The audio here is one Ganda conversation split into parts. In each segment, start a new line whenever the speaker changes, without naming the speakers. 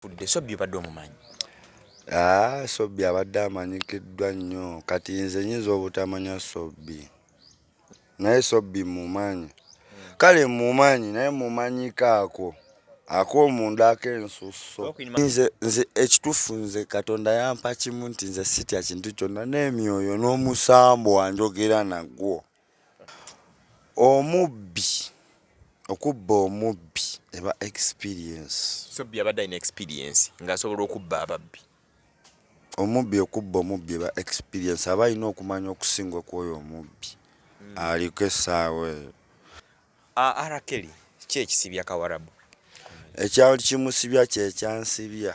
fudde sobbi obadde omumanyi ah,
sobbi abadde amanyikiddwa nnyo kati nze nyinza obutamanya sobbi naye sobbi mumanyi kale mumanyi naye mumanyiko ako akomunda akensusso nze ekitufu nze katonda yampa kimu nti nze sitya kintu kyonna n'emyoyo n'omusambo wanjogera nagwo Omubbi okubba omubbi eba experience. Sobbi abadde alina
experience ng'asobola okubba ababbi.
Omubbi okubba omubbi eba experience aba alina okumanya okusinga okwoyo omubbi hmm. aliko essaawa eyo.
Arakeli ki ekisibya Kawarabu? Ekyali
kimusibya kye kyansibya.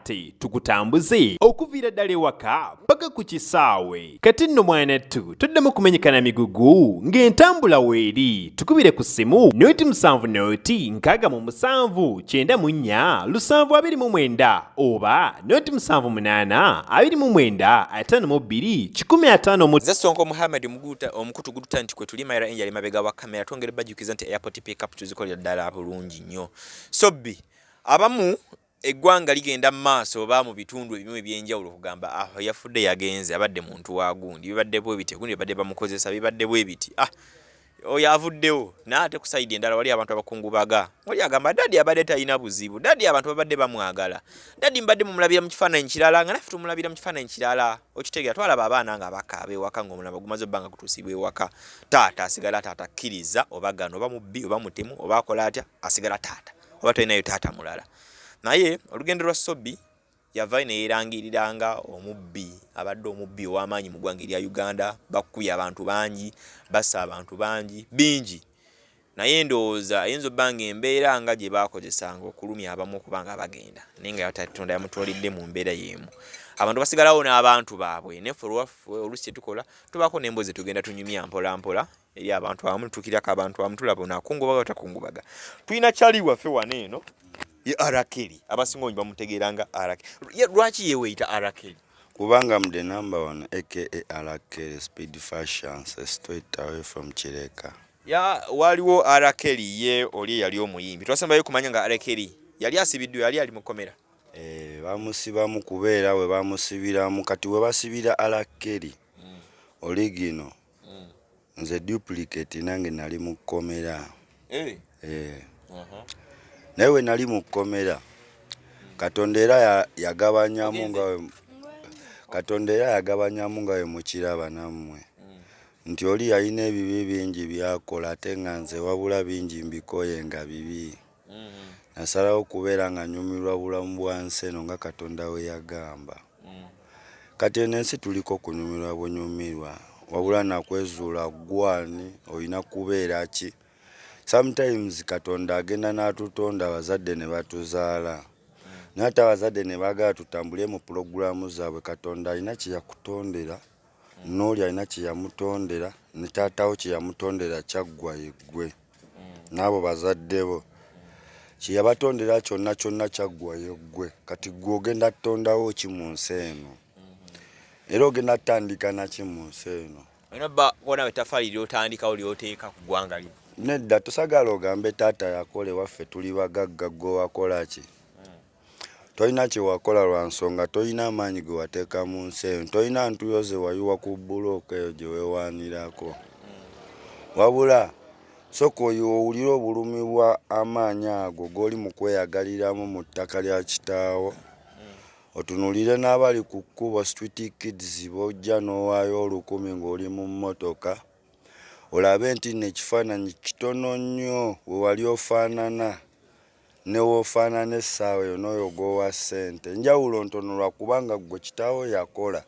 kati tukutambuze okuviira ddala ewaka paka ku kisaawe kati nno mwanattu toddamu kumenyekana migugu ng'entambula weeri tukubire ku ssimu nooti musanvu nooti nkaaga mu musanvu kyenda mu nnya lusanvu abiri mu mwenda oba nooti musanvu munaana abiri mu mwenda ataano mu bbiri kikumi ataano mu nze sonko muhammad
muguta omukutu gututa nti kwe tuli mayira enjali mabega wa kamera twongere bajjukiza nti airport pickup tuzikolera ddala bulungi nnyo sobbi abamu eggwanga ligenda mu maaso oba mu bitundu ebimu ebyenjawulo okugamba ah yafudde yagenze abadde muntu wa gundi bibadde bwe biti gundi bibadde bamukozesa bibadde bwe biti ah oyo avuddewo naye ate ku sayidi endala wali abantu abakungubaga oli agamba dadi abadde talina buzibu dadi abantu babadde bamwagala dadi mbadde mumulabira mu kifaananyi kirala nga naffe tumulabira mu kifaananyi kirala okitegera twalaba abaana nga bakaaba ewaka nga omulaba gumaze obbanga kutuusibwa ewaka taata asigala taata kkiriza oba gano oba mubbi oba mutemu oba akola atya asigala taata oba tolinayo taata mulala naye olugendo lwa sobi yavayo neyerangirira nga omubbi abadde omubbi ow'amaanyi mu ggwanga erya uganda bakubye abantu bangi basa abantu bangi bingi naye ndowooza ayinza obba nga embeera nga gye baakozesanga okulumya abamu okuba nga bagenda naye nga yatatonda yamutwalidde mu mbeera y'emu abantu basigalawo n'abantu baabwe neffe olwaffe olusi kyetukola tubaako n'embozi tugenda tunyumya mpolampola eri abantu abamu tukirako abantu abamu tulaba ono akungubaga batakungubaga tulina kyali waffe wano eno ye arakeli abasinga onyi bamutegeera nga arakeli lwaki yeweeyita arakeli kubanga am the
number one aka arakeli speed fashion straight away from kireka ya waliwo
arakeli ye oli eyali omuyimbi twasembayo kumanya nga arakeli yali asibiddwa yali ali mukomera eh, bamusibamu
kubeera we bamusibiramu kati we basibira arakeli mm. oligino mm. nze duplicate nange nali mu kkomera hey. Eh. hey. Eh. uh -huh. naye we nali mu kkomera katonda era yagabanyamu nga katonda era yagabanyamu nga we mukiraba nammwe mm. nti oli yalina ebibi bingi byakola ate nga nze wabula bingi mbikoye nga bibi mm-hmm. nasalawo okubeera nga nyumirwa bulamu bwa nsi eno nga katonda we yagamba mm. kati eno ensi tuliko kunyumirwa bunyumirwa wabula nakwezuula gwani olina kubeera ki sometimes katonda agenda n'atutonda abazadde ne batuzaala mm. naye ate abazadde ne baagala tutambule mu pulogulaamu zaabwe katonda alina kye yakutondera mm. n'oli alina kye yamutondera ne taatawo kye yamutondera kyaggwa yeggwe n'abo bazadde bo kyeyabatondera kyonna kyonna kyaggwayo ggwe kati ggwe ogenda tutondawo ki mu nsi eno era ogenda tutandika naki mu nsi eno onawe
tafaali lyotandikawo lyoteeka ku ggwanga lyo nedda tusagala
ogambe taata yakola ewaffe tuli bagagga gwe wakola ki tolina kyewakola lwa nsonga tolina amaanyi ge wateeka mu nsi eyo tolina ntuyo ze wayiwa ku bbulooka eyo gye weewaanirako wabula soka oyo owulira obulumi bwa amaanyi ago g'oli mu kweyagaliramu mu ttaka lya kitaawo otunulire n'abali ku kkubo street kids bojja n'owaayo olukumi ng'oli mu mmotoka olabe nti nno ekifaananyi kitono nnyo we wali ofaanana Newoofaanana essaawa eyo n'oyo gw'owa ssente, njawulo ntono lwa kubanga ggwe kitaawo yakola.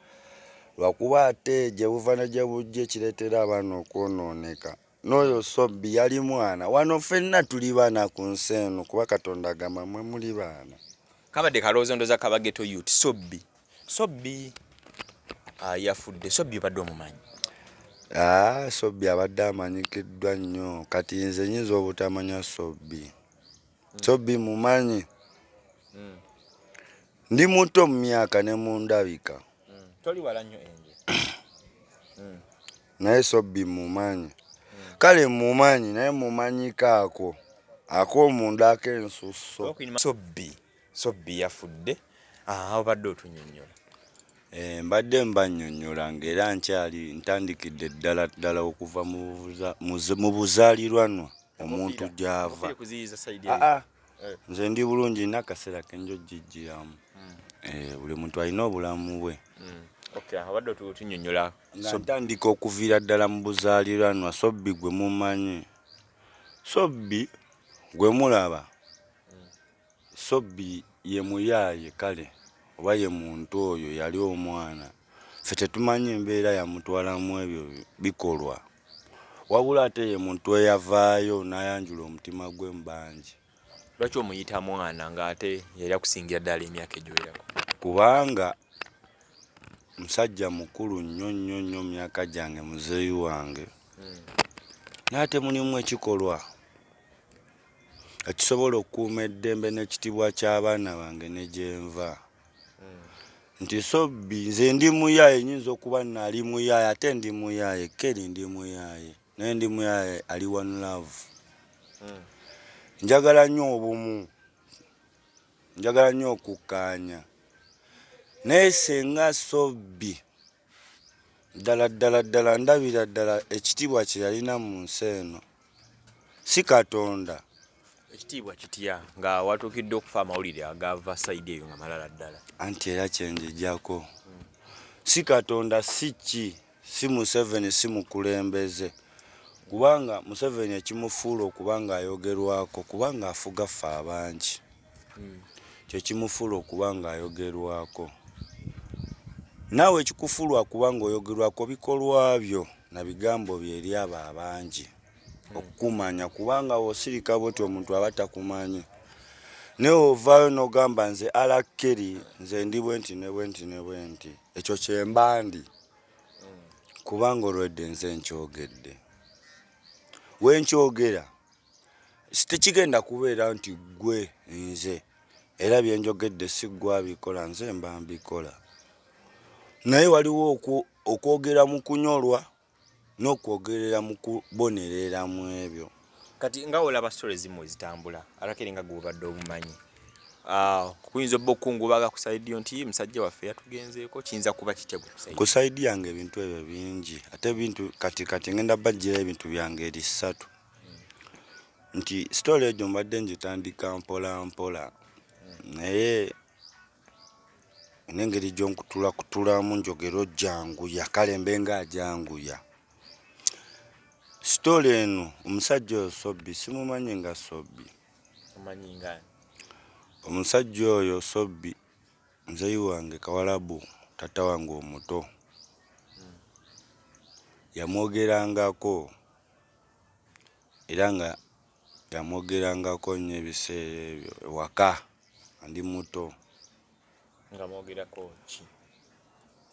Lwa kuba ate gye buva ne gye bujja ekireetera abaana okwonooneka. N'oyo Sobbi yali mwana. Wano ffenna tuli baana ku nsi eno kuba Katonda agamba mwe muli baana. Kabadde
kaloozo ndoza kaba ghetto yut sobbi. Sobbi ah, yafudde. Sobbi obadde omumanyi? Ah,
Sobbi abadde amanyikiddwa nnyo kati nze nyinza obutamanya Sobbi. Hmm. Sobbi mumanyi hmm. ndi muto mu myaka ne mu ndabika hmm. toli wala
nnyo enje
naye Sobbi mumanyi kale mumanyi naye mumanyikaako ak'omunda ak'ensusso Sobbi
Sobbi yafudde aha obadde otunyonyola eh,
mbadde mbanyonyola ng'era nkyali ntandikidde ddala ddala okuva mu buzaalirwanwa omuntu gy'ava ah, ah. eh. nze ndi bulungi nina akaseera kenjo jijjiramu hmm. eh, buli muntu alina obulamu bwe hmm. abadde
otunyonyola ntandika
okuviira ddala mu buzaalirwanwa sobbi gwe mumanyi sobbi gwe mulaba Sobbi ye muyaaye kale oba ye muntu oyo yali omwana ffe tetumanyi mbeera yamutwala mu ebyo bikolwa wabula ate ye muntu eyavaayo n'ayanjula omutima gwe mu bangi. Lwaki omuyita
mwana ng'ate yali akusingira ddala emyaka egiwerako? Kubanga
musajja mukulu nnyo nnyo nnyo mu myaka gyange muzeeyi wange n'ate mulimu ekikolwa. ekisobola okukuuma eddembe n'ekitibwa ky'abaana bange ne gyenva hmm. nti sobbi nze ndi muyaaye nyinza okuba nali muyaaye ate ndi muyaaye keri ndi muyaaye naye ndi muyaaye ali one love hmm. njagala nnyo obumu njagala nnyo okukkaanya naye senga sobbi ddala ddala ddala ndabira ddala ekitiibwa kye yalina mu nsi eno si katonda ekitiibwa
kitya nga watuukidde okufa amawulire agava sayidi eyo nga malala ddala anti era
kyenjijako si katonda si ki si museveni si mukulembeze kubanga museveni ekimufuula okuba nga ayogerwako kubanga afuga ffe abangi hmm. kyekimufuula okuba nga ayogerwako naawe ekikufuulwa kuba nga oyogerwako bikolwa byo na bigambo byo eri abo abangi hmm. okukumanya kubanga wosirika bwoti omuntu aba takumanyi naye ovaayo nogamba nze alakeri nze ndi bwenti ne bwenti ne bwenti ekyo kyembandi hmm. kubanga olwedde nze nkyogedde wenkyogera tekigenda kubeera nti gwe nze era byenjogedde si gwe abikola nze mba mbikola naye waliwo okwogera mu kunyolwa n'okwogerera mu kubonerera mu ebyo kati nga olaba
sitole ezimu ezitambula arakere nga gwobadde obumanyi ah, kuyinza obba okukungubaga ku saidi yo nti musajja waffe yatugenzeeko kiyinza kuba kitya ku saidi yange ebintu
ebyo bingi ate ebintu kati kati ngenda bajjira ebintu byange eri ssatu nti sitole egyo mbadde ngitandika mpola mpola naye nengeri gyonkutula kutulamu njogero janguya kale mbenga ajanguya sitole eno omusajja oyo sobbi simumanyi nga sobbi
omusajja
oyo sobbi nzeyi wange kawalabu tata wange omuto hmm. yamwogerangako era nga yamwogerangako nnyo ebiseera ebyo ewaka nga ndi muto. nga
mwogerako ki?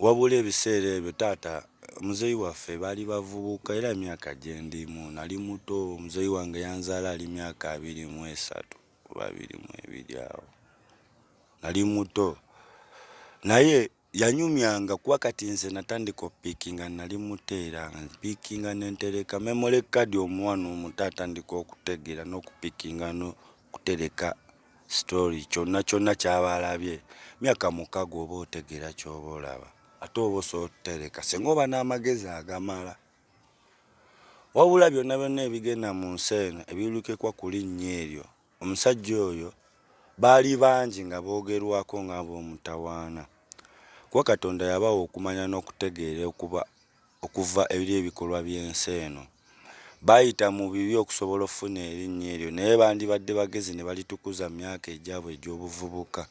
wabula
ebiseera ebyo taata muzeeyi waffe baali bavubuka era emyaka gye ndimu nali muto muzeeyi wange yanzaala ali myaka abiri mu esatu oba abiri mu ebiri awo nali muto naye yanyumyanga kuba kati nze natandika opikinga nali muteera mpikinga nentereka memole kadi omuwana omuto atandika okutegeera nokupikinga nokutereka story kyonna kyonna kyaba alabye myaka mukaga oba otegeera kyoba olaba ate oba osobola otutereka singa oba n'amagezi agamala wabula byonna byonna ebigenda mu nsi eno ebiwulikekwa ku linnya eryo Omusajja oyo baali bangi nga boogerwako ng'ab'omutawaana, kuba Katonda yabawa okumanya n'okutegeera okuba okuva eri ebikolwa by'ensi eno. Baayita mu bibi okusobola okufuna erinnya eryo, naye bandibadde bagezi ne balitukuza mu myaka egyabwe egy'obuvubuka.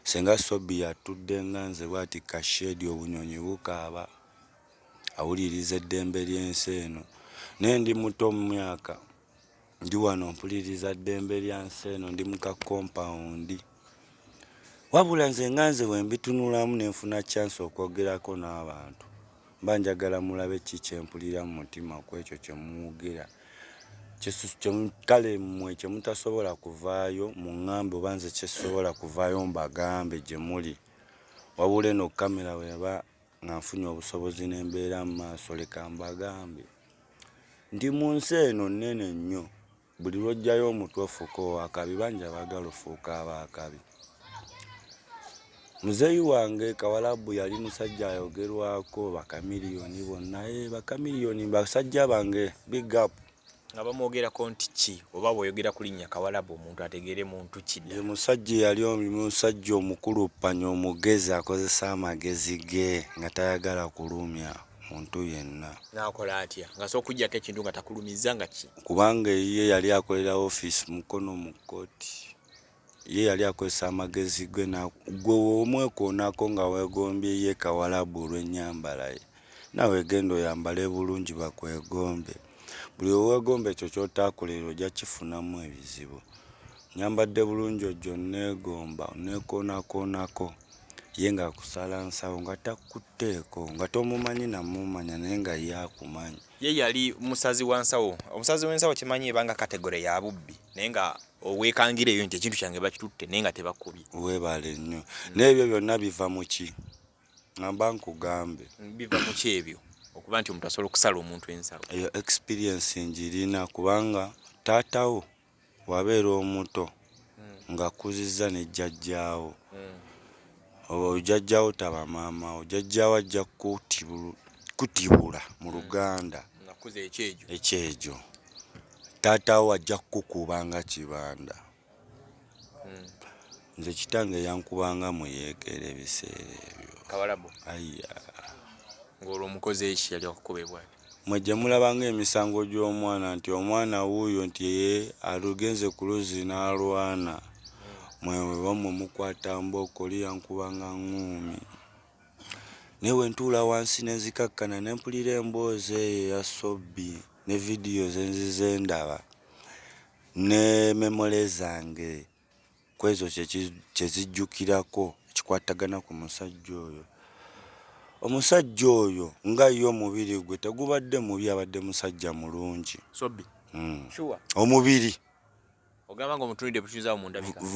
Ssenga Sobi yatudde nga nze bw'ati ku kasheedi, obunyonyi bukaaba, awuliriza eddembe ly'ensi eno. Naye ndi muto mu myaka. ndi wano mpuliriza ddembe lya nsi eno ndi muka kompawundi wabula nze nga nze wembitunulamu nenfuna kyansi okwogerako n'abantu mba njagala mulabe ki kyempulira mu mutima kwekyo kyemwogera kale mwe kyemutasobola kuvaayo muŋŋambe oba nze kyesobola kuvaayo mbagambe gye muli wabula eno kamera weba nga nfunye obusobozi n'embeera mu maaso leka mbagambe nti mu nsi eno nnene nnyo buli lwojjayo omutwe ofuuka owakabi bangi abaagala ofuuka abaakabi muzeeyi wange kawalabu yali musajja ayogerwako bakamiliyoni bonna eh, bakamiliyoni basajja bange big up nga bamwogerako
nti ki oba bwoyogera ku linnya kawalabu omuntu ategeere muntu kida ye musajja eyali
omusajja omukulu panya omugezi akozesa amagezi ge nga tayagala kulumya muntu yenna nakola atya nga
so okujjako ekintu nga takulumizza nga ki kubanga eyiye yali
akolera ofiisi mukono mu kkooti ye yali akozesa amagezi gwe gwe womwekoonako nga wegombye ye kawalabu olwenyambala ye nawe genda oyambale bulungi bakwegombe buli wewegomba ekyo kyotakolera ojja kifunamu ebizibu nyambadde bulungi ojjo negomba onekonakonako ye nga akusala nsawo nga takutteeko nga tomumanyi namumanya naye nga ye akumanyi ye yali
musazi wa nsawo omusazi w'ensawo kimanyi ebanga kategore ya bubbi naye nga owekangira eyo nti ekintu kyange bakitutte naye nga tebakubye weebale nnyo
naye ebyo byonna biva mu ki ngamba nkugambe biva mu ki
ebyo okuba nti omuntu asobola okusala omuntu ensalo eyo experience
ngirina kubanga taatawo wabeera omuto ng'akkuzizza ne jjajjaawo obo jjajjaawo taba maamawo jjajjaawo ajja kukutibulu kutibula mu luganda nakuza ekyejo ekyejo taataawo ajja kukukuba nga kibanda nze kitange yankubanga mu yeekera ebiseera ebyo kawalabu aiya ng'olwo
omukozi eki yali akukuba ebwati Mwe gye mulaba
ng'emisango gy'omwana nti omwana wuuyo nti ye alugenze ku luzzi n'alwana mwe wamwe mukwata mbooko liyankuba nga ŋŋuumi naye bwe ntuula wansi ne nzikakkana ne mpulira emboozi eyo eya sobbi ne vidiyo ze nzize ndaba ne memole zange kwezo kyezijjukirako ekikwatagana ku musajja oyo omusajja oyo nga ye omubiri gwe tegubadde mubi abadde musajja mulungi hmm.
omubiri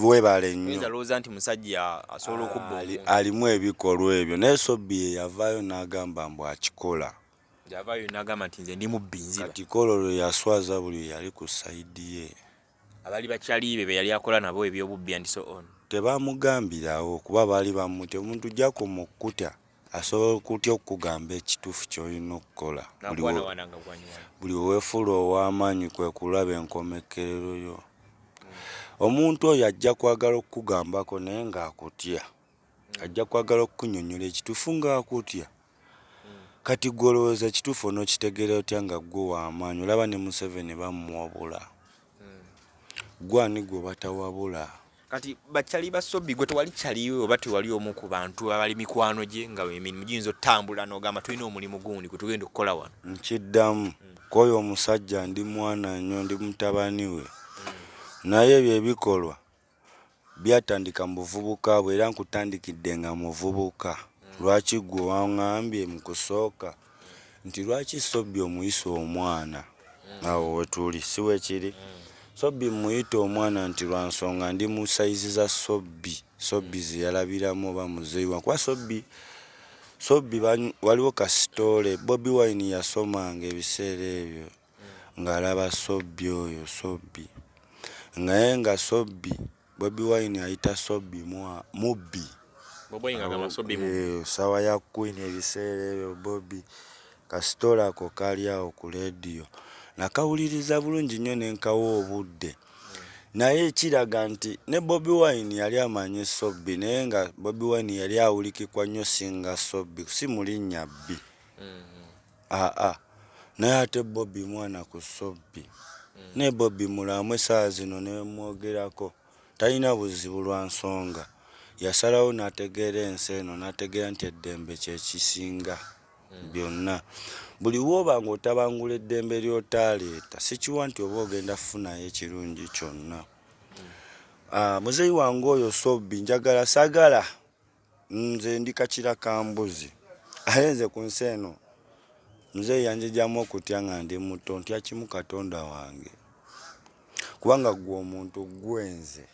webale nyoalimu ebikolwa
ebyo naye sobi yeyavaayo n'agamba mbu akikola
kati kolo lwe yaswaza
buli yali ku sayidi ye abali bakyaliibe
be yali akola nabo ebyobubbi and so on tebamugambirawo
kuba baali bamute omuntu jakoma okukuta asobola okutya okukugamba ekituufu kyolina okukola buli wewefuula ow'amaanyi kwe kulaba enkomekerero yo hmm. omuntu oyo ajja kwagala okukugambako naye ng'akutya hmm. ajja kwagala okukunyonyola ekituufu ng'akutya Kati gwe olowooza ekituufu onokitegera otya nga gwe wamaanyi olaba ne museveni bamuwabula hmm. gwe ani gwe batawabula kati
bacali basobi gwe tewali caliwe oba tewali omu ku bantu abali mikwano gye nga emirimu giyinza otambula nogamba tulina omulimu gundi gwe tugenda okukola wano nkiddamu hmm.
kwoyo omusajja ndi mwana nyo ndi mutabani we hmm. naye ebyo ebikolwa Byatandika mu buvubuka bwe era nkutandikidde nga muvubuka. Lwaki ggwe wangambye mu kusooka nti lwaki Sobbi omuyisa omwana? Awo we tuli, si bwe kiri? Sobbi mmuyita omwana nti lwa nsonga ndi mu sayizi za Sobbi. Sobbi ze yalabiramu oba muzeeyi wange. Kuba Sobbi, Sobbi waliwo kasitoole Bobi Wine yasomanga ebiseera ebyo. nga alaba sobbi oyo sobbi naye nga sobbi bobi wine ayita sobbi mwa mubbi sawa ya queen ebiseera ebyo bobi kasitolako kali awo ku lediyo nakawuliriza bulungi nnyo nenkawa obudde naye kiraga nti ne bobi wine yali amanyi sobbi naye nga bobi wine yali awulikikwa nnyo singa sobbi si mulinnya bbi mm. aa ah, ah. naye ate bobi mwana ku sobbi mm. ne bobi mulamu esaa zino nemwogerako talina buzibu lwa nsonga yasalawo nategeera ensi eno nategeera nti eddembe kyekisinga mm. byonna buli woba nga otabangula eddembe lyotaleeta sikiwa nti oba ogenda kufunayo ekirungi kyonna mm. ah, muzeyi wange oyo sobbi njagala sagala Nze ndi kakira ka mbuzi aye nze ku nsi eno muzeeyi yanjegyamu okutya nga ndi muto ntya kimu katonda wange kubanga ggwe omuntu ggwe nze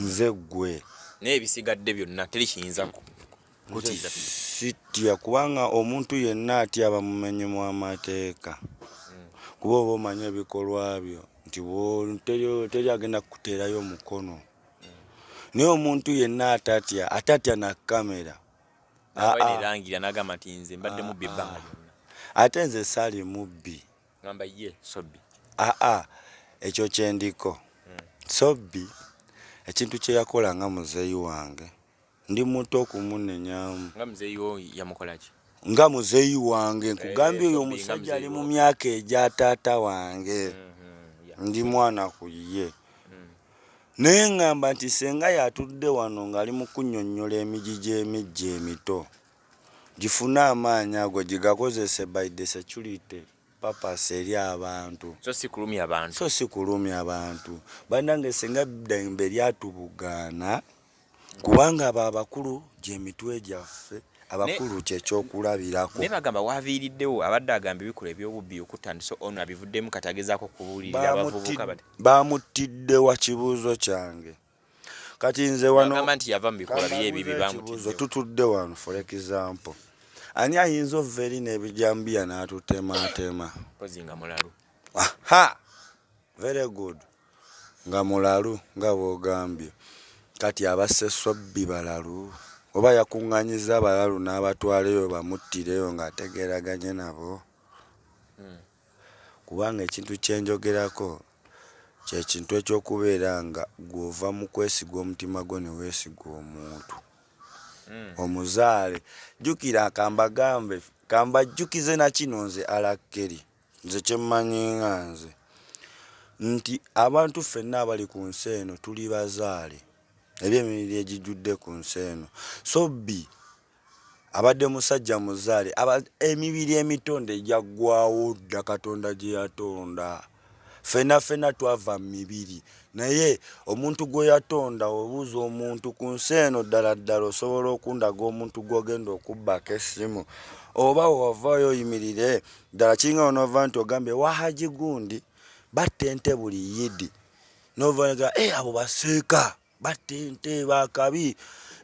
nze ggwe naye ebisigadde
byonna teri kiyinza kutiiza sitya
kubanga omuntu yenna atya abamumenyi mu amateeka hmm. kuba oba omanyi ebikolwa byo nti teri agenda kukuteerayo mukono naye omuntu yenna atatya atatya na kamera ah,
ah. ate nze
sali mubbi aa
ah,
ekyo kyendiko hmm. sobbi ekintu kyeyakola nga muzeeyi wange ndi muto kumunenyamu nga muzeeyi wo
yamukola ki nga muzeeyi
wange eh, nkugambye oyo omusajja ali mu myaka egya taata wange mm-hmm, ndi mwana ku ye mm. naye ŋŋamba nti senga yatudde wano ng'ali mu kunnyonnyola emigi gy'emijja emito gifune amaanyi ago gigakozese by the security purpose eri abantu so si kulumya abantu
so si kulumya abantu banange senga ddembe lyatubugaana kubanga abo abakulu gyemitwe gyaffe abakulu kyekyokulabirako naye bagamba waviiriddewo abadde agamba ebikola ebyobubbi okutandisa ono abivuddemu kati agezaako okubuulirira abavubuka bamuttidde wa
kibuuzo kyange kati nze wanoamba nti yava mu bikola bye
ebibi bamutizo tutudde wano for
example ani ayinza ova eri n'ebijambiya n'atutemaatema kozinga mulalu
aha
very good Nga mulalu nga bw'ogambye. Kati abasse Sobbi balalu? Oba yakuŋŋaanyizza abalalu n'abatwala eyo bamuttireyo ng'ategeeraganye nabo? Kubanga ekintu kye njogerako kye kintu eky'okubeera nga ggwe ova mu kwesiga omutima gwo ne weesiga omuntu omuzaale. Jjukira ka mbagambe, ka mbajjukize na kino nze Allan Kelly. nze kyemmanyi nga nze nti abantu ffenna abali ku nsi eno tuli bazaale eri emibiri egijjudde ku nsi eno so bi abadde musajja muzaale emibiri emitonde egyaggwawo dda katonda gye yatonda ffenna ffenna twava mu mibiri naye omuntu gwe yatonda obuuza omuntu ku nsi eno ddala ddala osobola okundaga omuntu gw'ogenda okubbako essimu oba wewavaayo oyimirire ddala kiringa onova nti ogambye wahaji gundi batta ente buli yidi novaga e eh, abo baseeka batta ente bakabi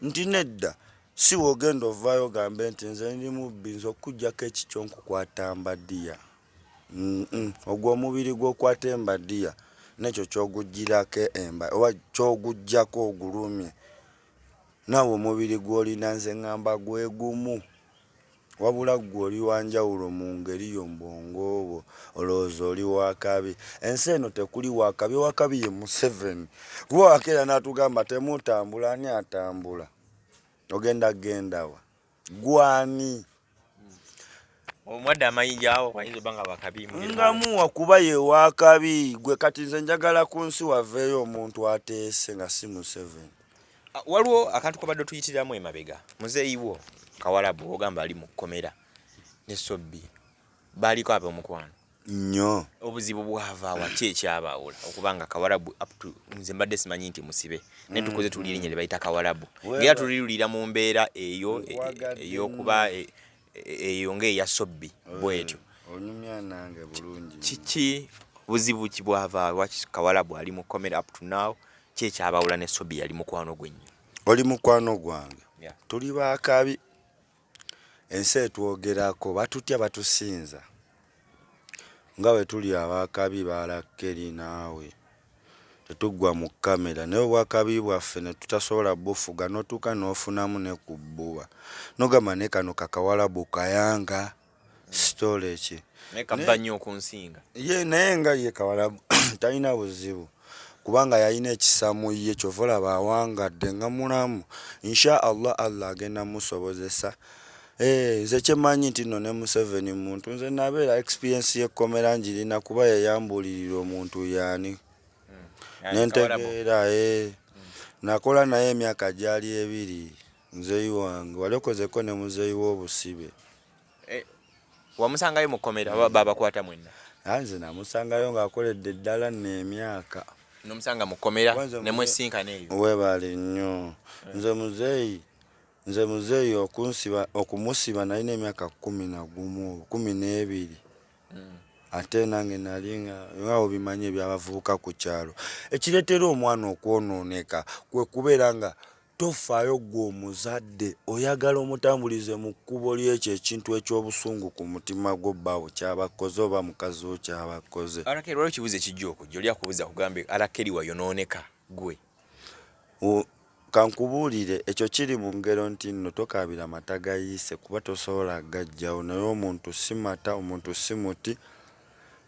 nti nedda si wogenda ovaayo ogambe nti nze ndi mubbi nze okukujjako ekikyo nkukwata mbadiya ogwo omubiri gwokwata embadiya nekyo kyogujjirako emba oba kyogujjako ogulumye naawe omubiri gwolina nze ngamba gwegumu wabula ggwe oli wanjawulo mu ngeri yo mbwongo obwo olowooza oli wakabi ensi eno tekuli wakabi owakabi ye museveni kuba wakeera natugamba temutambula ani atambula ogenda gendawa gwani
omwadde amayinja awo wayinza obanga wakabi nga muwa kuba
ye wakabi gwe kati nze njagala ku nsi waveeyo omuntu ateese nga si museven ah, waliwo
akantu kabadde tuyitiramu emabega muzeeyiwo kawalabu ogamba ali mu kkomera ne sobbi baaliko ab'omukwano nnyo
obuzibu bwavaawa
ki ekyabaawula okuba nga kawarabu apto nze mbadde simanyi nti musibe naye mm. tukoze tuli erinnya lye bayita kawarabu ngaera tulirulira mu mbeera eyo e, ey'okuba e, e, eyo ng'eya sobbi bwetyo onyumya nange
bulungi kiki
buzibu ki bwavaawa kawarabu ali mu comera apto now ki ekyabaawula ne sobbi yali mukwano gwe nnyo oli mukwano
gwange tuli baakabi ensi etwogerako batutya batusinza nga bwe tuli abakabi balakkeri naawe tetuggwa mu kamera naye obwakabi bwaffe ne tutasobola bufuga n'otuuka n'ofunamu ne ku bbuba nogamba ne kano kakawalabu kayanga sitole eki naye kabba nnyo
okunsinga ye naye nga
ye kawalabu talina buzibu kubanga yalina ekisa mu ye kyova olaba awangadde nga mulamu insha allah allah agenda musobozesa Eh, nze kyemanyi nti no ne museveni muntu nze nabeera experience yekkomera njirina kuba yeyambulirira omuntu yani hmm. nentegeera eh. hmm. nakola naye emyaka gyali ebiri muzeeyi wange wali okozeko ne muzeeyi w'obusibe eh, wamusangayo
mu kkomera babakwata
mwenna
ah,
nze
namusangayo
ng'akoledde eddala
nno
emyaka
nomusanga mu kkomera ne mwesinkana eyo webaale nnyo
eh. nze muzeeyi nze muzeeyi okunsiba okumusiba nali n'emyaka kumi na gumu kumi n'ebiri hmm. ate nange nali nga obimanyi ebyabavubuka ku kyalo ekireetera omwana okwonooneka kwe kubeera nga Tofaayo ggwe omuzadde, oyagala omutambulize mu kkubo ly'ekyo ekintu eky'obusungu ku mutima gwo bbawo ky'aba akkoze oba mukazi wo ky'aba akkoze. Arakeri waliwo ekibuuzo ekijja
okujja oli akubuuza akugambe Arakeri wayonooneka ggwe.
Kankubuulire ekyo kiri mu ngero nti nno tokaabira mata gayiise kuba tosobola gaggyawo naye omuntu si mata omuntu si muti.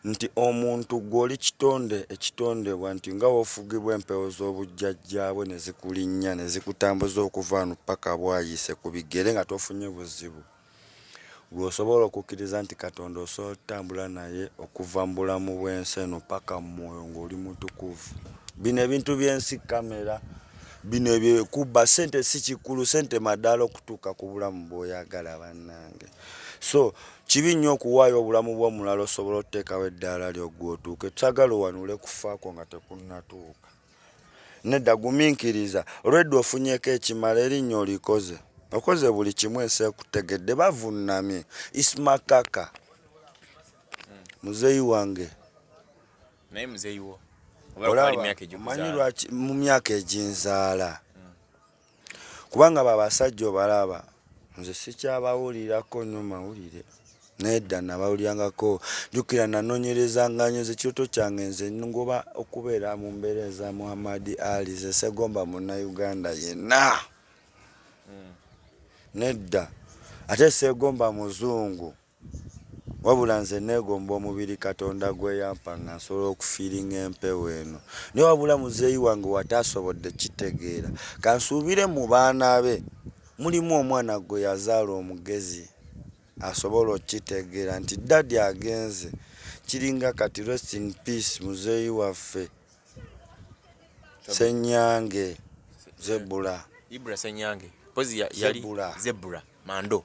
nti omuntu gwe oli kitonde ekitondebwa nti nga wofugibwa empewo z'obujjajjaabwe ne zikulinnya ne zikutambuza okuva wano paka bwayise ku bigere nga tofunye buzibu gwe osobola okukkiriza nti katonda osobola otutambula naye okuva mu bulamu bw'ensi eno paka mu mwoyo ng'oli mutukuvu bino ebintu by'ensi kamera bino ebyekubba sente si kikulu sente madaala okutuuka ku bulamu bw'oyagala bannange so Kibi nnyo okuwaayo obulamu bw'omulala osobole oteekawo eddaala lyo gwe otuuke. Twagala owanule kufa kwo nga tekunnatuuka. Nedda, guminkiriza. Olwedda ofunyeko ekimala, erinnya olikoze. Okoze buli kimu ensi ekutegedde. Bavunnamye. Ismakaka. Muzeeyi wange.
Naye muzeeyi wo. Omanyi
lwaki mu myaka eginzaala. kubanga babasajja obalaba nze sikyabawulirako nyo mawulire nedda nabawulirangako jukira nanonyerezanganyo ze kiroto kyange nze ngoba okubeera mu mbeera eza muhammad ali ze segomba munauganda yenna hmm. nedda ate segomba muzungu wabula nze neegomba omubiri katonda gweyampa nga nsobola okufiiringa empewo eno naye wabula muzeeyi wange wataasobodde kitegeera kansuubire mu baana be mulimu omwana gwe yazaala omugezi asobola okukitegeera nti dadi agenze kiringa kati rest in peace muzeeyi waffe senyange
zebula zebula mando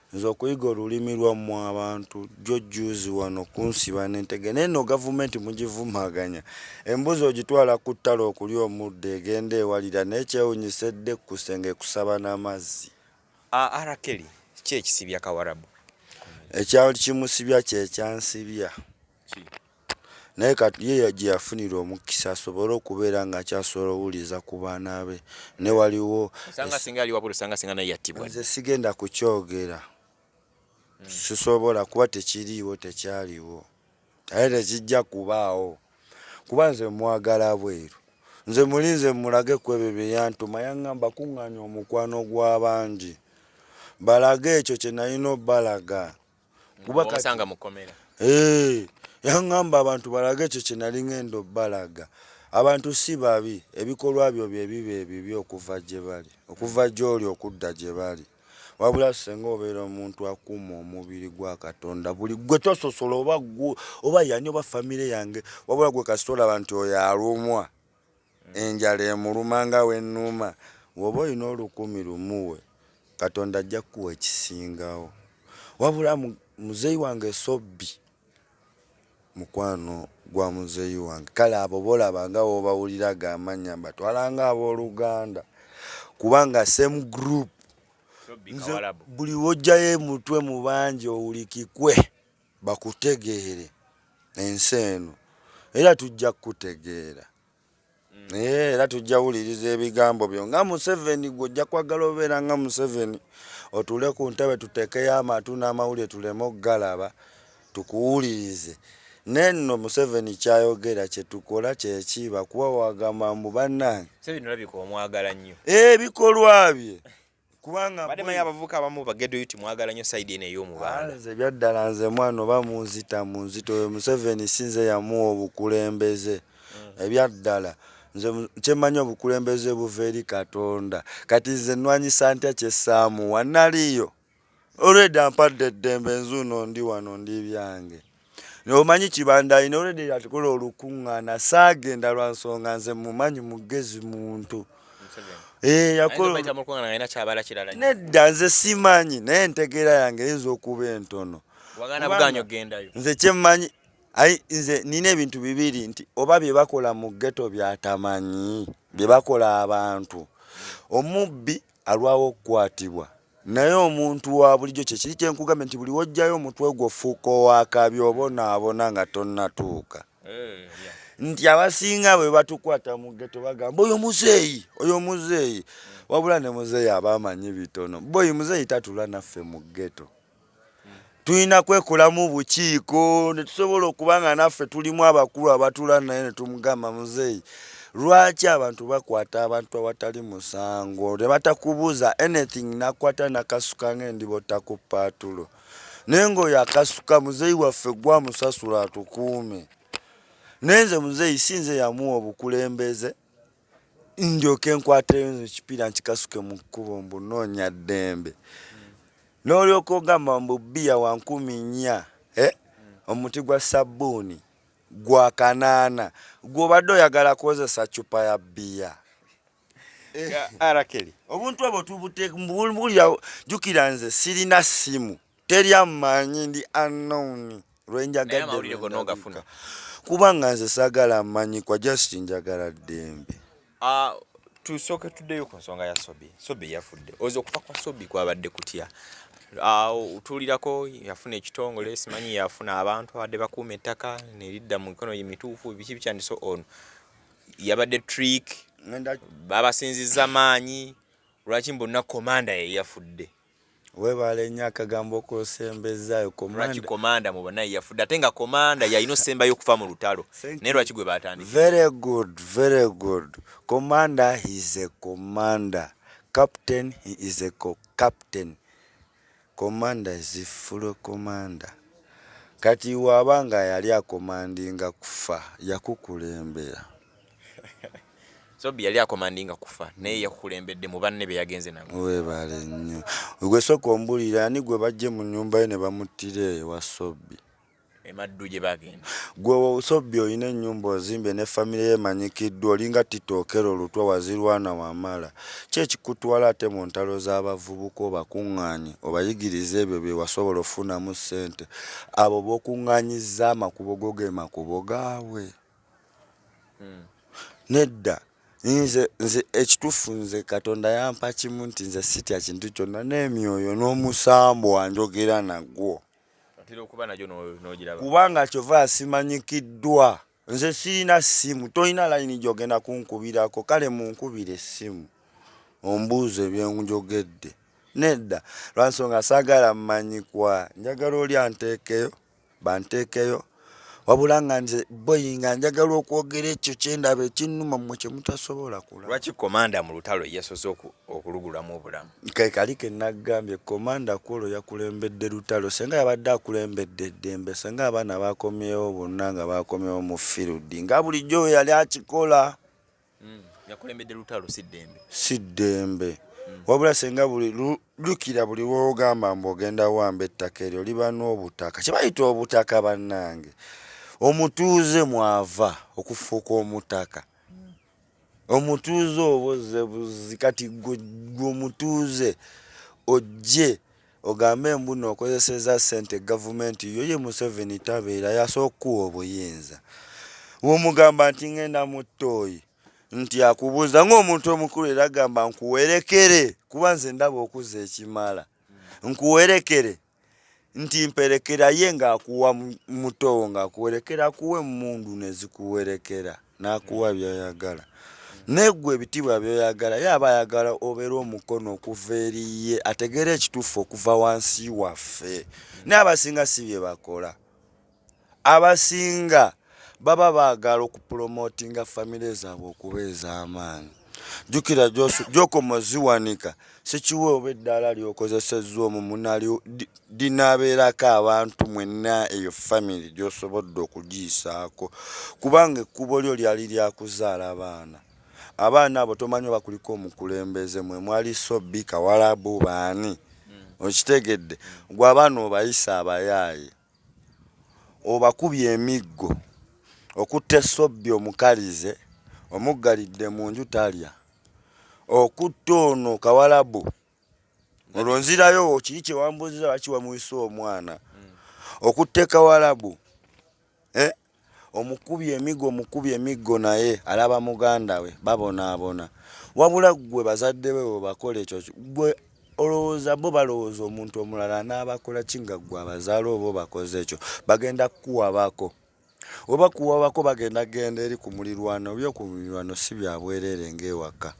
Nze okuyiga olulimi lwammwe abantu jjo jjuuzi wano kunsiba n'entege naye no gavumenti mugivumaganya embuzi ogitwala ku ttale okulya omuddo egenda ewalira naye kyewunyisa edde ku kusenge ekusaba n'amazzi arakeli
ki ekisibya kawarabu ekyali
kimusibya kyekyansibya naye kati ye gye yafunira omukisa asobole okubeera ng'akyasobola owuliriza ku baana be ne waliwo
nze sigenda
kukyogera hmm. sisobola kuba tekiriiwo tekyaliwo naye tekijja kubaawo kuba nze mwagala bweru nze muli nze mulage ku ebyo bye yantuma yaŋŋamba kuŋŋaanya omukwano gw'abangi balage ekyo kye nalina obalaga kuba kasanga mukomera
eh
yangamba abantu balage kye kinali ngendo balaga abantu si babi ebikolwa byo bye bibe ebibyo okuva gye bali okuva gyoli okudda gye bali wabula senga obeera omuntu akuuma omubiri gwa katonda buli gwe tososola oba oba yani oba famire yange wabula gwe kasita olaba nti oyo alumwa Enjala emuluma nga wennuuma. Woba olina olukumi lumuwe katonda ajja kukuwa ekisingawo. Wabula muzeyi wange sobbi mukwano gwa muzeyi wange kale abo bolaba nga wobawulira gamanya mbatwala nga aboluganda kubanga same group nze buli wojjayo emutwe mubangi owulikikwe. bakutegeere ensi eno era tujja kukutegeera mm. eh, era tujja wuliriza ebigambo byo nga museveni gwe ojja kwagala obeera nga museveni otuule ku ntebe tuteekeyo amatu n'amawulire tuleme okugalaba tukuwulirize nenno museveni kyayogera kyetukola kyeki bakuba wagamba mbu bannange
ebikolwa eh,
bye kubanga bade maye abavuka abamu
bagedo yuti mwagala nyo side ene yo mubanda nze byaddala nze
mwana oba munzita munzito yo Museveni sinze yamuwa obukulembeze mm. ebyaddala nze kyemanyi obukulembeze buva eri katonda kati nze nwanyisa ntya kyesaamuwa naliyo olweda mpadde eddembe nzuuno ndi wano ndi byange Omanyi kibanda alina olwedde yatukola olukuŋŋaana saagenda lwa nsonga nze mumanyi mugezi muntu eh, nedda nze simanyi naye entegeera yange eyinza okuba entono nze kyemmanyi ai nze nina ebintu bibiri nti oba bye bakola mu ggeto byatamanyi bye bakola abantu omubbi alwawo okukwatibwa naye omuntu wa bulijjo kyekiri kye nkugambye nti buli wojjayo omutwe gwo fuuka owakabi obonaabona nga tonnatuuka eh, nti abasinga bwe batukwata mu geto bagamba oyo muzeeyi oyo muzeeyi wabula ne muzeeyi aba amanyi bitono boyi muzeeyi tatula naffe mu geto tulina kwekolamu bukiiko netusobola okuba nga naffe tulimu abakulu abatula naye netumugamba muzeeyi lwaki abantu bakwata abantu awatali musango nebatakubuuza anything nakwata nakasuka ngendibota ku paatulo naye ngaoyo akasuka muzeeyi waffe gwamusasula atukuume naye nze muzeeyi si nze yamuwa obukulembeze ndyoke nkwateyo nze ekipiira nkikasuke mu kkubo mbu noonya ddembe n'olyoka ogamba mbu bbiya wa nkumi nnya eh? omuti gwa sabbuuni gwa kanaana gw'obadde oyagala kukozesa cupa ya bbiya eh. arakeli
obuntu obwo tubuteka
mbubulira jukira nze sirina ssimu teri amanyi ndi unknown lwenjagadde kubanga nze sagala amanyi kwa just njagala ddembe ah,
tusooke tuddeyo ku nsonga ya sobi sobi yafudde oza okufa kwa sobi kwabadde kutya otuulirako yafuna ekitongole simanyi yafuna abantu abadde bakuuma ettaka neridda mu mikono emituufu biki bikyandise ono yabadde trick babasinziza maanyi lwaki mbonna komanda ye yafudde Webaale
nnyo akagambo k'osembezaayo lwaki komanda
mu banaye yafudde ate nga komanda yalina osembayo okufa mu lutalo naye lwaki gwe batandika very good very
good komanda he is a commander captain he is a co captain komanda is full commander kati waaba nga yali akomandinga kufa yakukulembera
Sobi yali akomandinga kufa naye yakulembedde mu banne be yagenze nabo. Weebale nnyo.
Gwe sooka ombulira ani gwe bajje mu nnyumba ye ne bamuttira ewa Sobi. Emaddu
gye baagenda. Gwe Sobi
olina ennyumba ozimbe ne famire ye emanyikiddwa olinga titookero lutwa wazirwana wamala. Ki ekikutwala ate mu ntalo z'abavubuka obakuŋŋaanye obayigirize ebyo bye wasobola okufunamu ssente. Abo b'okuŋŋaanyizza amakubo go ge makubo gaabwe? hmm. nedda nze nze ekitufu nze katonda yampa kimu nti nze sitya kintu kyonna n'emyoyo n'omusambu wanjogera nagwo kubanga kyova asimanyikiddwa nze sirina ssimu tolina layini gyogenda kunkubirako kale munkubira essimu ombuuzo ebyenjogedde nedda lwansonga sagala mmanyikwa njagala oli anteekeyo banteekeyo wabula nga nze boyi nga njagala okwogera ekyo kyendaba ekinnuma mmwe kye mutasobola kula lwaki komanda mu lutalo
yesoze okulugulamu obulamu ke kali ke
naggambye komanda kwolwo yakulembedde lutalo senga yabadde akulembedde eddembe senga abaana bakomyewo bonna nga bakomyewo mu firudi nga bulijjo we yali akikola Mm,
yakulembedde lutalo si ddembe. Si
ddembe. Mm. Wabula senga buli lukira buli wogamba mbu ogenda wamba ettaka eryo liba n'obutaka kye bayita obutaka bannange omutuuze mwava okufuuka omutaka mm. omutuuze oboze buzi kati gwe omutuuze ojje Ogambe mbuno okozeseza sente gavumenti yo ye museveni tabeera yasoka okuwa obuyinza womugamba nti ngenda muttoyi nti akubuuza ngaomuntu omukulu era gamba nkuwerekere kuba nze ndaba okuza ekimala nkuwerekere nti mperekera ye ngaakuwa mutowo ngaakuwerekera kuwa emundu nezikuwerekera n'akuwa by'oyagala naye gwe ebitiibwa byoyagala ye aba ayagala obeera omukono okuva eri ye ategeera ekituufu okuva wansi waffe naye abasinga si bye bakola abasinga baba baagala okupulomotinga famire zaabwe okuba ez'amaanyi jukira gyokoma ziwanika sikiwe oba eddaala lyokozesezza omu munali dinaabeerako abantu mwenna eyo famiry gyosobodde okugiyisaako kubanga ekkubo lyo lyali lyakuzaala baana abaana abo tomanyi oba kuliko omukulembeze mwe mwali sobi kawalabu baani hmm. okitegedde gwe abaana obayisa abayaaye Obakubye emiggo, okutte Sobbi omukalize omuggalidde mu nju talya, okutte ono Kawalabu olwo nzirayo kiri kye wambuuzizza lwaki wamuyise omwana, okutte Kawalabu eh, omukubye emigo omukubye emiggo naye alaba muganda we babonaabona wabula ggwe bazadde be webakola ekyo gwe olowooza bo balowooza omuntu omulala n'abakola ki nga ggwe abazaala oba obakoze ekyo bagenda kukuwabako oba kuwabako bagenda genda eri ku mulirwano byo ku mulirwano si byabwereere ng'ewaka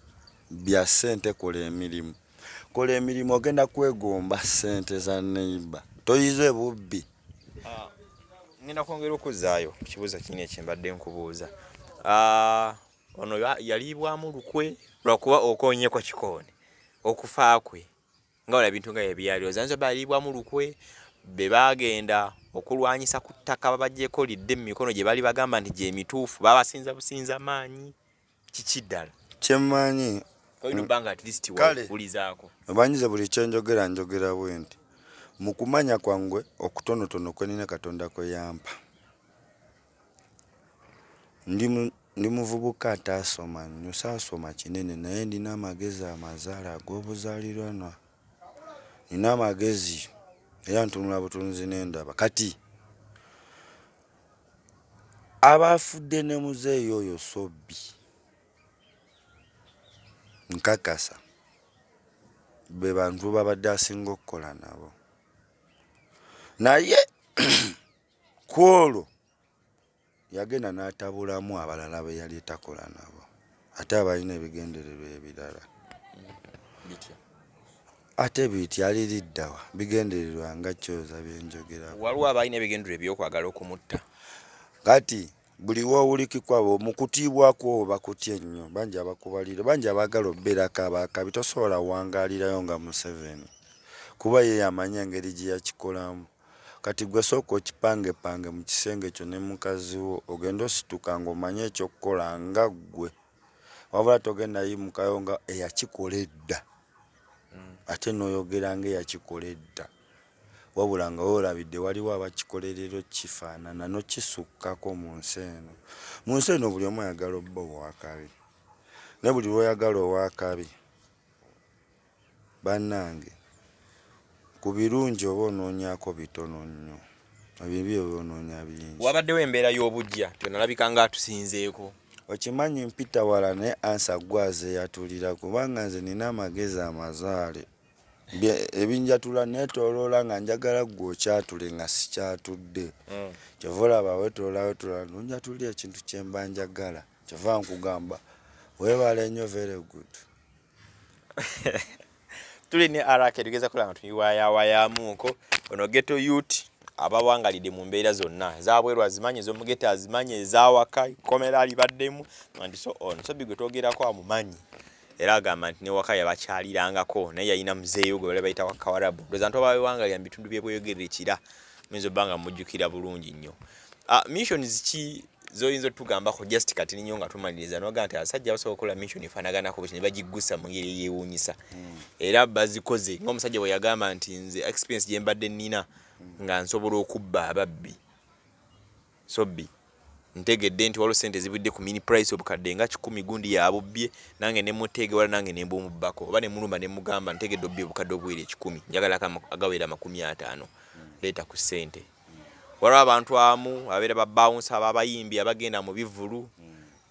bya ssente kola emirimu kola emirimu ogenda kwegomba ssente za neiba toyize bubbi Ah,
ngenda kwongera okuzzaayo ku kibuuzo kino ekyembadde nkubuuza ah, ono yaliibwamu lukwe lwakuba okonyeko kikooni okufa kwe nga wala bintu nga ebyali ozanza baliibwamu lukwe be baagenda okulwanyisa ku ttaka babagyeko lidde mu mikono gye bali bagamba nti gyemituufu babasinza businza maanyi kiki ddala
kyemmanyi
obanyize buli
kyenjogera njogera bwe nti mu kumanya kwangwe okutonotono kwenina katonda kwe yampa ndi muvubuka ataasoma nnyo saasoma kinene naye ndina amagezi amazaala ag'obuzaaliranwa nina amagezi era ntunula butunzi n'endaba kati abaafudde ne muzeeyi oyo sobbi nkakasa be bantu babadde asinga okukola nabo naye ku olwo yagenda n'atabulamu abalala be yali etakola nabo ate abalina ebigendererwa ebirala ate bityali liddawa bigendererwa nga kyoza byenjogera waliwo abalina ebigendererwa
ebyokwagala okumutta kati
buli wowulikikwa mu kutiibwa kwo bakutya ennyo bangi abakubalira bangi abaagala obeerako abaakabi tosobola wangaalirayo nga museveni kuba ye yamanya engeri gye yakikolamu Kati gwe sooka okipangepange mu kisenge kyo ne mukazi wo ogende osituka ng'omanyi ekyokukola nga ggwe wabula togenda yimukayo nga eyakikola edda hmm. ate n'oyogera nga eyakikola edda wabula nga weolabidde waliwo abakikolerero kifaanana nokisukkako mu nsi eno mu nsi eno buli omu ayagala obba owakabi ne buli lwoyagala owakabi Banange ku birungi oba onoonyako bitono nnyo, ebibi oba onoonya bingi. Wabaddewo embeera y'obuggya
tonalabika nga atusinzeeko. Okimanyi
mpita wala naye ansa gwe azeyatulira kubanga nze nina amagezi amazaale ebinjatula netoloola nga njagala gwe okyatule nga sikyatudde mm. kyova olaba wetolawetola nonjatulira ekintu kyemba njagala kyova nkugamba webale nyo very good
tuli ne arake tugeza kola nga tuyiwayawayamuuko ono geto yut abawangalidde mu mbeera zonna ezabweru azimanyi ezomugeta azimanyi ezawaka komera alibaddemu and so on so bigwe twogerako amumanyi era agamba nti newaka yabakyalirangako naye yalina muzeeyo gwe bali bayita wakawarabu ndoza nti obawewangalira mu bitundu byebweyogerera ekira muyinza obba nga mujjukira bulungi nnyo Uh, missions ki zoyinza otugambako just kati ninyo nga tumaliriza noga nti abasajja basobola okukola mission efanaganako bwekyo nebagiggusa mu ngeri eyewuunyisa hmm. era bazikoze ngaomusajja bwe yagamba nti nze experience gye mbadde nnina hmm. nga nsobola okubba ababbi sobbi ntegedde nti waliwo sente ezibudde ku mini price obukadde nga kikumi gundi yabubbye nange nemuteege wala nange nembumubbako oba nemulumba nemugamba ntegedde obbye obukadde obuwera ekikumi njagala agawera amakumi ataano hmm. leeta ku sente waliwo abantu amu abeera babawunsa ababayimbi abagenda mu bivulu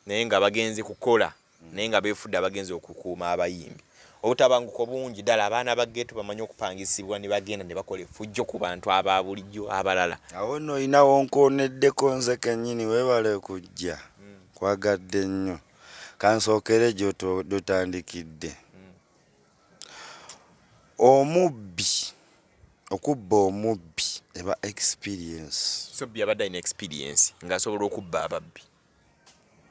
naye nga bagenze kukola naye nga befudde abagenze okukuuma abayimbi obutabanguko bungi ddala abaana ba geeto bamanyi okupangisibwa ne bagenda ne bakola efujjo ku bantu aba bulijjo abalala awo no olinawo
nkooneddeko nze kennyini weebale kujja hmm. kwagadde nnyo kansookere gyotandikidde Omubbi okubba omubbi eba experience. So bbi abadde alina
experience ng'asobola okubba ababbi.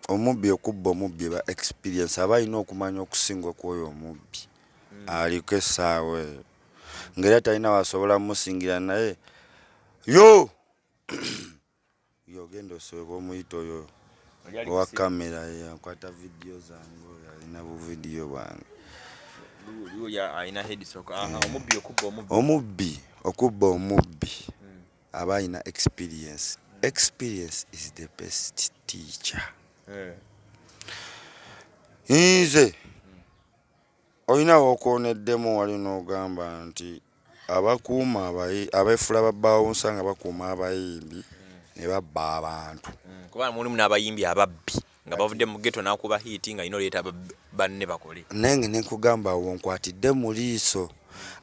Omubbi okubba omubbi eba experience aba alina okumanya okusinga okwoyo omubbi mm. aliko essaawa eyo ng'era talina wasobola musingira naye yo Yogenda osooka omuyita oyo owa kamera yakwata vidiyo zange oyo alina buvidiyo bwange omubbi okubba omubbi hmm. aba alina experience hmm. experience is the best teacher eh. nze Olina w'okooneddemu wali n'ogamba nti abakuuma abayi abeefuula babaawunsa nga bakuuma abayimbi ne babba abantu. Mm, kubanga mulimu
n'abayimbi ababbi nga bavudde mu ghetto n'akuba hiiti nga yina oleeta banne bakole. Naye nga ne nkugamba
awo nkwatidde mu liiso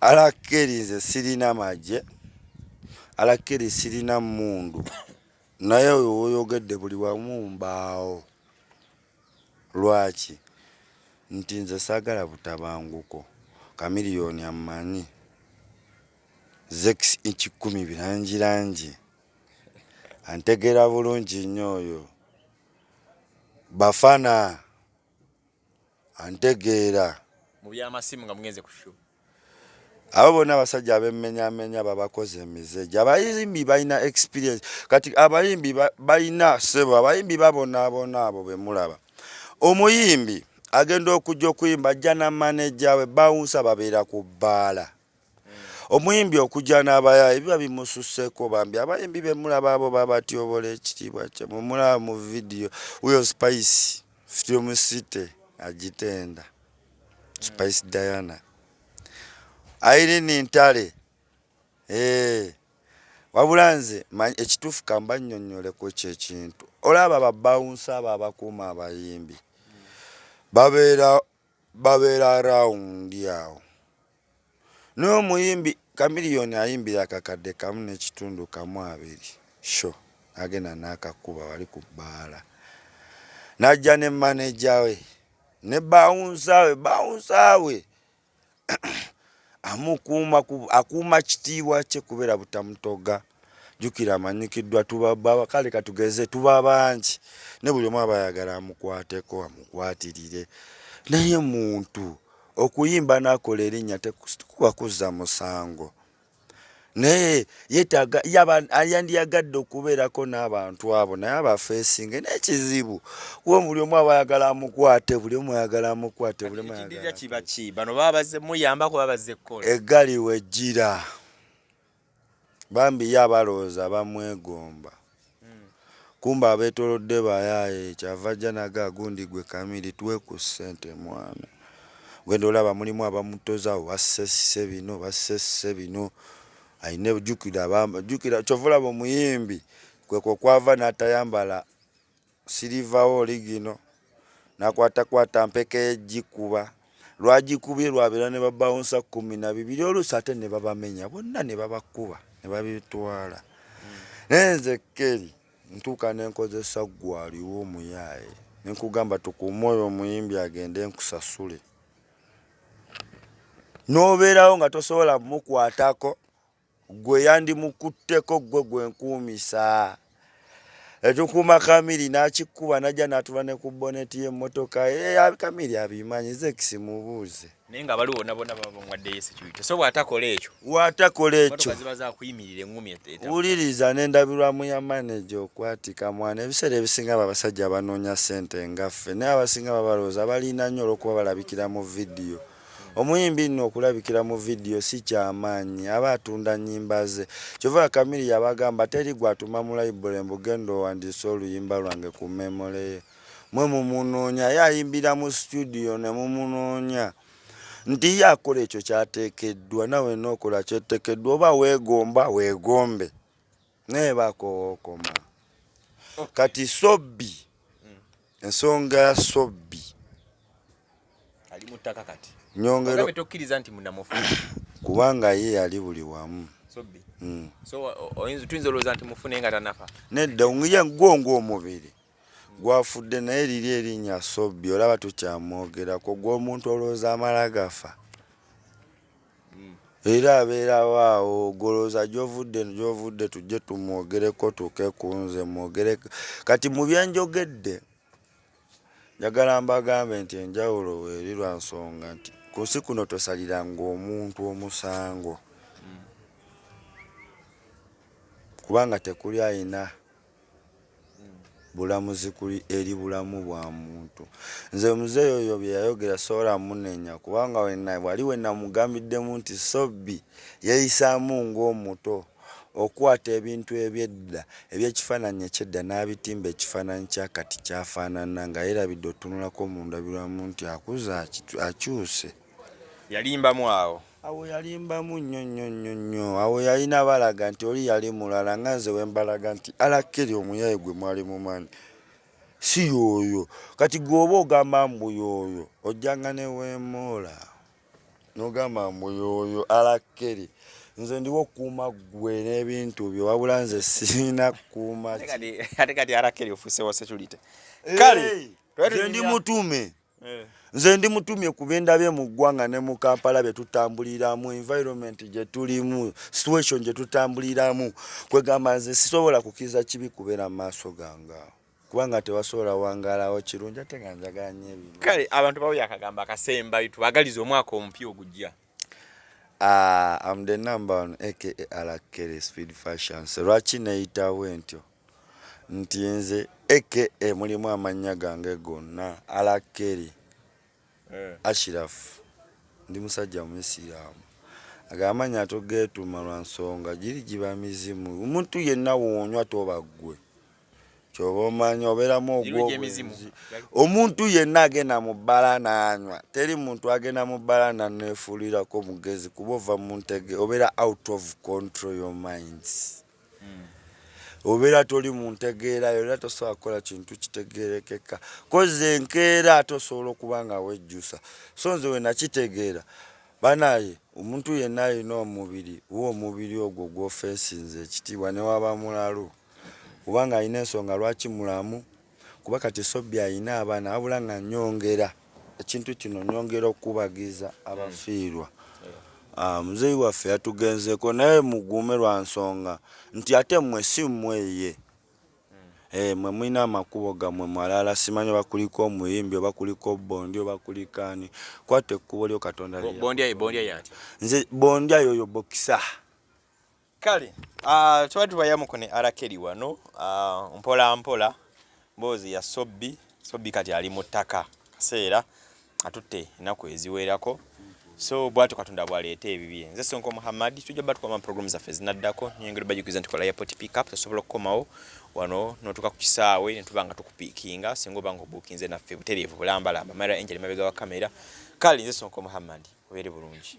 alakkeri nze sirina magye alakkeri sirina mmundu naye oyo woyogedde buli wamu mbaawo. Lwaki? Nti nze saagala butabanguko. Chameleone ammanyi. Zex ekikumi birangirangi. Antegeera bulungi nnyo oyo. Bafana antegeera. Mu by'amasimu
nga mugenze ku show.
abo bona abasajja abemenyamenya babakoze emize gyabayimbi balina experience kati abayimbi balina sebo abayimbi babonaabona abo bemulaba omuyimbi agenda okujja okuyimba ajja na maneja we bawunsa babeera ku bbaala omuyimbi okujja n'abaya ebiba bimususseko bambi abayimbi bemulaba abo babatyobola ekitiibwa kye mumulaba mu vidiyo wyo spice film city agitenda Spice Diana. Irene Ntale. Eh. Wabula nze ekituufu kamba nnyonnyole ku ekyo ekintu. Olaba babawunsa abo abakuuma abayimbi. Babeera babeera rawundi awo. n'omuyimbi kamiliyoni ayimbira akakadde kamu n'ekitundu kamu abiri sho agenda n'akakuba wali ku bbaala n'ajja ne maneja we ne bawunsaawe bawunsaawe amukuuma akuuma kitiibwa kye kubeera butamutoga jukira amanyikiddwa tubaba kale katugeze tuba bangi ne buli omu aba ayagala amukwateko amukwatirire naye muntu okuyimba nakola erinnya tekuba kuzza musango naye yetaga yandiyagadde okubeerako n'abantu abo naye abafeesinge n'ekizibu kuba buli omu aba ayagala amukwate buli omu ayagala amukwate buli omu ayagala kibaki bano baba
bazze muyambako baba bazze kukola eggali wejjira
Bambi ye abalowooza bamwegomba kumbe abetolodde bayaye kyava ajja naga gundi gwe kamili tuwe ku sente mwana gwenda olaba mulimu abamutozawo basesse bino basesse bino ayina jukira jukira kyova olaba omuyimbi kwekwo kwava natayambala Sirivawo oli gino nakwatakwata mpeke yejjikuba lwagikubye lwabeera ne babawunsa kumi na bibiri oluusi ate ne babamenya bonna ne babakuba ne babitwala hmm. naye nze keri ntuuka ne nkozesa gwaliwo omuyaaye ne nkugamba tukuume oyo omuyimbi agende nkusasule n'obeerawo nga tosobola mukwatako Gwe yandimukutteko gwe gwe nkuumisa etukuuma kamiri n'akikuba najja n'atula ne ku boneti y'emmotoka kamiri abimanyi zekisi mubuuze naye nga baliwo bona
bona babawaddeyo security so bw'atakola ekyo bw'atakola ekyo
ziba zakuyimirira
eŋŋumi wuliriza
n'endabirwamu ya maneja okwatika mwana ebiseera ebisinga abo abasajja abanoonya ssente nga ffe naye abasinga babalowooza balina nnyo olw'okuba balabikira mu vidiyo Omuyimbi nno okulabikira mu vidiyo si kyamaanyi, aba atunda nnyimba ze. Kyova Kamiri yabagamba teri gw'atuma mu layibule mbu genda owandiise oluyimba lwange ku memole ye. Mwe mumunoonya, ye ayimbira mu situdiyo ne mumunoonya. nti ye akola ekyo kyateekeddwa nawe nookola kyetekeddwa oba weegomba weegombe naye bakowokoma kati sobbi ensonga ya sobbi
ali mu ttaka kati nyongero tokkiriza
nti munamufu
kubanga
ye yali buli wamu sobbi mm.
so oyinza tuyinza olowooza nti mufu naye nga tanafa nedda ngiya
gwonga omubiri gwafudde naye liri erinnya sobbi olaba tukyamwogerako gwomuntu olowooza amala gafa Era abeerawo awo ogolooza gyovudde gyovudde tujje tumwogereko tuuke ku nze mwogere kati mu byenjogedde njagala mbagambe nti enjawulo weeri lwa nsonga nti ku nsi kuno tosaliranga omuntu omusango kubanga tekuli ayina bulamuzi kuli eri bulamu bwa muntu nze muzeeyi oyo bye yayogera sobola munenya kubanga wena wali wenamugambiddemu nti sobbi yeeyisaamu ng'omuto okukwata ebintu ebyedda ebyekifaananyi ekyedda n'abitimba ekifaananyi kya kati kyafaanana nga yerabidde otunulako mu ndabirwamu nti akuze akyuse
yalimbamu awo Awo yalimbamu nnyo
nnyo nnyo nnyo. Awo yalina balaga nti oli yali mulala nga nze wembalaga nti alakeri omuyaye gwe mwali mumanyi si yooyo. Kati gweoba ogamba mbu yooyo ojjanga ne wemoola nogamba mbu yooyo alakeri nze ndiwo okukuuma ggwe n'ebintu byo wabula nze sirina kukuuma ate kati
alakeri ofuusewo security kale ndi mutume
Eh. nze ndi mutumye ku bendabye mu ggwanga ne mu kampala bye tutambuliramu environment gye tulimu situation gye tutambuliramu kwegamba nze sisobola kukiriza kibi kubeera mu maaso ganga kubanga tewasobola wangalawo kirungi ate nga njagala nyo ebino kale abantu bawo yakagamba
akasemba tubagaliza omwaka omupya ogujja
Uh, I'm the number one aka Alakere Speed Fashions. Lwaki neyitawo entyo? nti nze aka mulimu amannya gange gonna alakeri eh. ashirafu ndi musajja muisiraamu ago amannya togeetuma lwa nsonga giri giba mizimu omuntu yenna woonywa toba ggwe kyoba omanya obeeramu ogwobwenzi omuntu yenna agenda mu bbala n'anywa teri muntu agenda mu bbala naneefuulirako mugezi kuba ova mu ntege obeera out of control your minds obeera toli mu ntegeera yo era tosobola kukola kintu kitegeerekeka kozi enkeera ate osobola okuba nga wejjusa so nze wenakitegeera banaye omuntu yenna alina omubiri wa omubiri ogwo gwofensinze ekitiibwa newaba mulalu kubanga alina ensonga lwaki mulamu kuba kati esobbi alina abaana wabula nga nyongera ekintu kino nyongera okukubagiza abafiirwa ah, muzeeyi waffe yatugenzeeko naye muguume lwa nsonga nti ate mmwe si mmweye Eh, mwe mulina amakubo gammwe mwalala simanyi oba kuliko omuyimbi oba kuliko bondi oba kuliko ani kwata ekkubo lyo katonda
nze bondya
yoyo bokisa
kale uh, tuba tubayamuko ne arakeri wano uh, mpola mpola mboozi ya sobbi sobbi kati ali mu ttaka kaseera atutte ennaku eziwerako so bwatyo katonda bwaleeta ebibye nze sonko muhammad tujja ba tukoma program zaffe zinaddako nyongera bajukiza nti kola airport pickup tosobola okukomawo wano notuuka ku kisaawe netuba nga tukupiikinga singa oba nga obuukinze naffe butereevu bulambalamba mara angel mabega wa kamera kale nze sonko muhammad obeere bulungi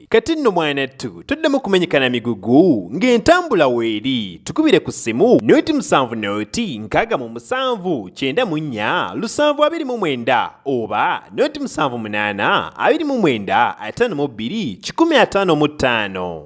Kati nno mwanattu tuddemu kumenyekana migugu ng'entambula weeri tukubire ku ssimu noti musanvu noti nkaaga mu musanvu kyenda mu nnya lusanvu abiri mu mwenda oba noti musanvu munaana abiri mu mwenda ataano mu bbiri kikumi ataano mu ttaano.